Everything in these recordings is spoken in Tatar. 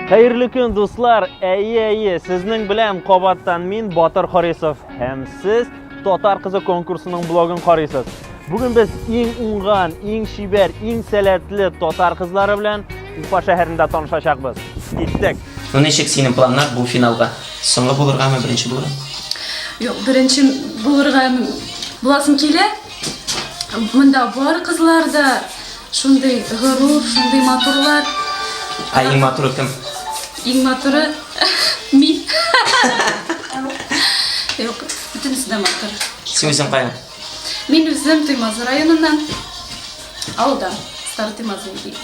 Хәерле көн, дуслар! Әйе, әйе, сезнең белән кабаттан мин Батыр Харисов һәм сез Татар кызы конкурсының блогын карыйсыз. Бүген без иң уңган, иң шибәр, иң сәләтле татар кызлары белән Уфа шәһәрендә танышачакбыз. Киттек! Ну ничек синең планнар бу финалга? Соңгы булыргамы, беренче булырга? Юк, беренче булырга буласым килә. Монда бар кызлар да, Шундый горур, шундый матурлар. Ә иң матуры кем? Иң матуры мин. Юк, бөтенесе дә матур. Син үзең каян? Мин үзем Туймазы районыннан. Авылда. Старый Туймазы дип.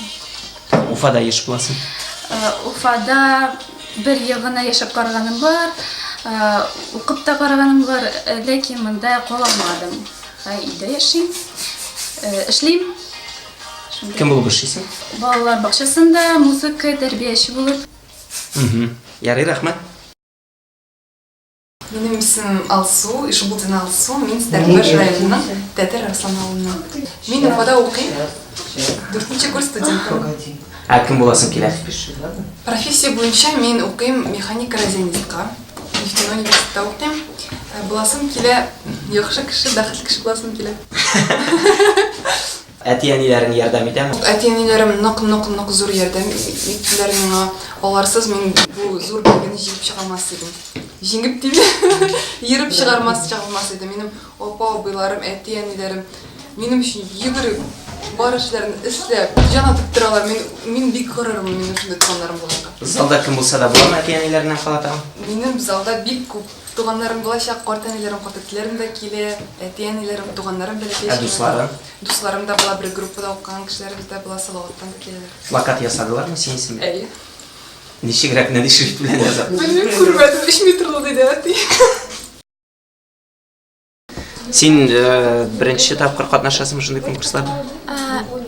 Уфада яшәп буласың. Э, Уфада бер ел гына яшәп караганым бар. Э, Укып та караганым бар, э, ләкин монда кала алмадым. Ә өйдә яшим. Эшлим. Кем булып эшлисең? Балалар бакчасында музыка тәрбияче булып. Ярый, рәхмәт. Минем исемем Алсу, Ишбулдина Алсу, мин Стәрлебаш районының Тәтер Арслан авылыннан. Мин Уфада укыйм, дүртенче курс студенты. Ә кем буласың килә? Профессия буенча мин укыйм механика розенитка. Нефтяной университетта укыйм. Ә, Буласым килә, яхшы кеше, бәхетле кеше буласым килә. Әти-әниләрең ярдәм итәме? Әти-әниләрем нык-нык-нык зур ярдәм иттеләр миңа. Аларсыз мин бу зур билгене җигеп чыга алмас идем. Җиңеп диме? Ерып чыгармас чыга алмас идем. Минем Апа-абыйларым, әти-әниләрем минем өчен йөгереп, бар эшләрен эшләп, җан атып торалар. Мин, мин бик горырмын минем шундый туганнарым булганга. Залда кем булса да буламы әти-әниләреннән кала тагын? Минем залда бик күп туганнарым булачак, картәниләрем, картәтиләрем дә килә, әти-әниләрем, туганнарым бәләкәй. Ә дуслары? Дусларым да була, бер группада укыган кешеләребез дә була, Салаваттан да киләләр. Плакат ясадылармы синең исемеңә? Әйе. Ничегрәк, нәни шрифт белән язып? Белмим, күрмәдем, 3 метрлы диде әти. Син э, беренче тапкыр катнашасыңмы шундый конкурсларда?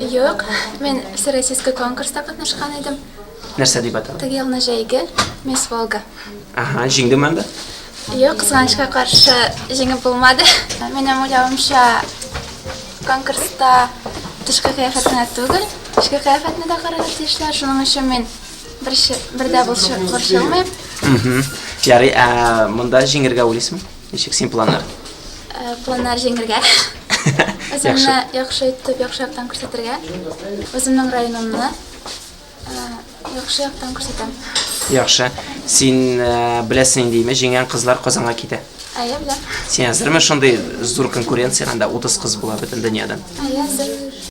Юк, мин всероссийский конкурста катнашкан идем. Нәрсә дип атала? Теге елны җәйге Мисс Волга. Ага, җиңдеме анда? Юк, кызганычка каршы җиңеп булмады. Минем уйлавымча конкурста тышкы кыяфәт кенә түгел, эчке кыяфәтне дә карарга тиешләр. Шуның өчен мин бер дә борчылмыйм. Ярый, ә монда җиңергә уйлыйсыңмы? Ничек син планнар? Э, планнар җиңергә. Үземне яхшы итеп, яхшы яктан күрсәтергә. Үземнең районымны э, яхшы яктан күрсәтәм. Яхшы. Син э, беләсең инде, җиңгән кызлар Казанга китә. Әйе, беләм. Син әзерме шундый зур конкуренциягә, анда 30 кыз була бөтен дөньядан? Әйе, әзер.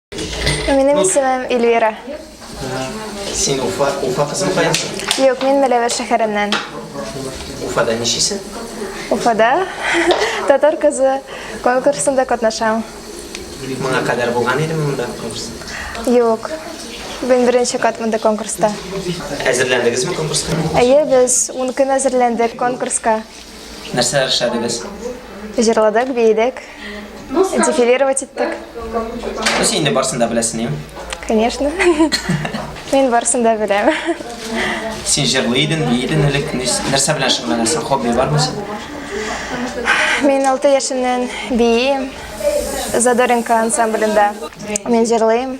Минем ну, исемем Эльвира. Син Уфа, Уфа кызы каясың? Юк, мин Мәләвәр шәһәреннән. Уфада ничисең? Уфада татар кызы конкурсында катнашам. Моңа кадәр булган идеме монда конкурс? Юк. Мин беренче кат монда конкурста. Әзерләндегезме конкурска? Әйе, без 10 көн әзерләндек конкурска. Нәрсәләр эшләдегез? Җырладык, биедек, дефилировать иттек. Син инде барсын да беләсеңме? Конечно. Мин барсын да беләм. Син җырлый идең, бии идең элек. Нәрсә белән шөгыльләнәсең? Хобби бармы син? Мин 6 яшемнән биим. Задоринка ансамблендә. Мин җырлыйм.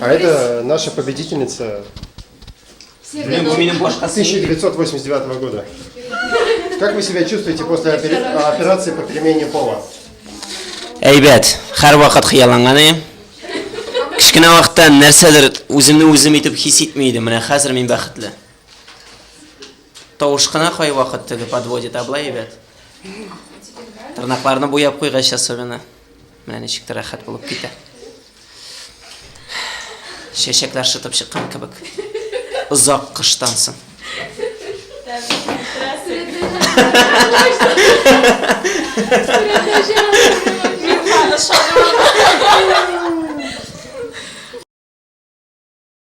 А это наша победительница 1989 года. Как вы себя чувствуете после операции по перемене пола? Әйбәт, хәр вакыт хыялланган идем. Кечкенә вакытта нәрсәдер үземне үзем итеп хис итми идем. Менә хәзер мин бәхетле. Тавыш кына кай вакыт теге подводит, а былай әйбәт. Тырнакларны буяп куйгач особенно. Менә ничек тә рәхәт булып китә. Чәчәкләр шытып чыккан кебек. Озак кыштан соң. Мин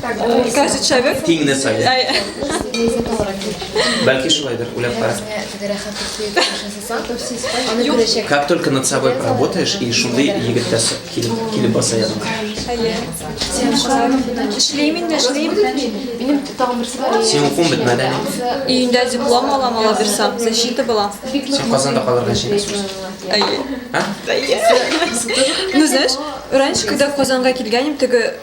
Кәсе чәбе? Тиңне сайлы. Бәлки шулайдыр, үләп кара. Как только над собой поработаешь, и шундый егет тә килеп, килеп баса ядыңа. Әйе. Сен шулай эшлим инде, эшлим. Минем тагын берсе бар. Сен укуын бетмәде. Июньдә диплом алам, ала бирсәм, защита була. Сен Казанда калырга чәкәсең. Әйе. А? Әйе. Ну, знаешь, раньше, когда в Казанга килгәнем, теге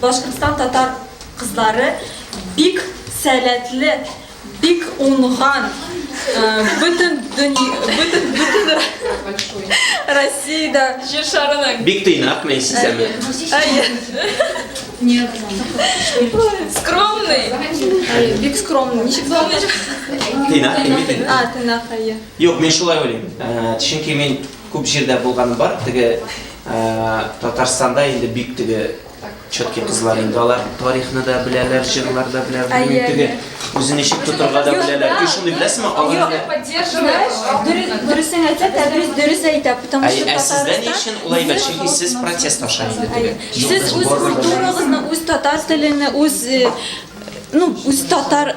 Башкортстан татар кызлары бик сәләтле, бик уңган, бөтен Россиядә җир шарының. Бик тыйнак мени сизәме. Әйе. Скромный. Әйе, бик скромный. Ничек скромный? Тыйнак, тыйнак. А, тыйнак, әйе. Юк, мин шулай уйлыйм. Чөнки мин Күп җирдә булганым бар, теге Татарстанда инде бик теге четкий кызлар инде алар тарихны да беләләр, җырлар да беләләр, белмим теге үзен ничек тотырга да беләләр. И шуны беләсезме? Алар дөресен әйтсә, Тәбриз дөрес әйтә, потому что Ә сездә ни өчен улай бер? Чөнки сез протест аша инде теге. Сез үз культурагызны, үз татар телен, үз ну, үз татар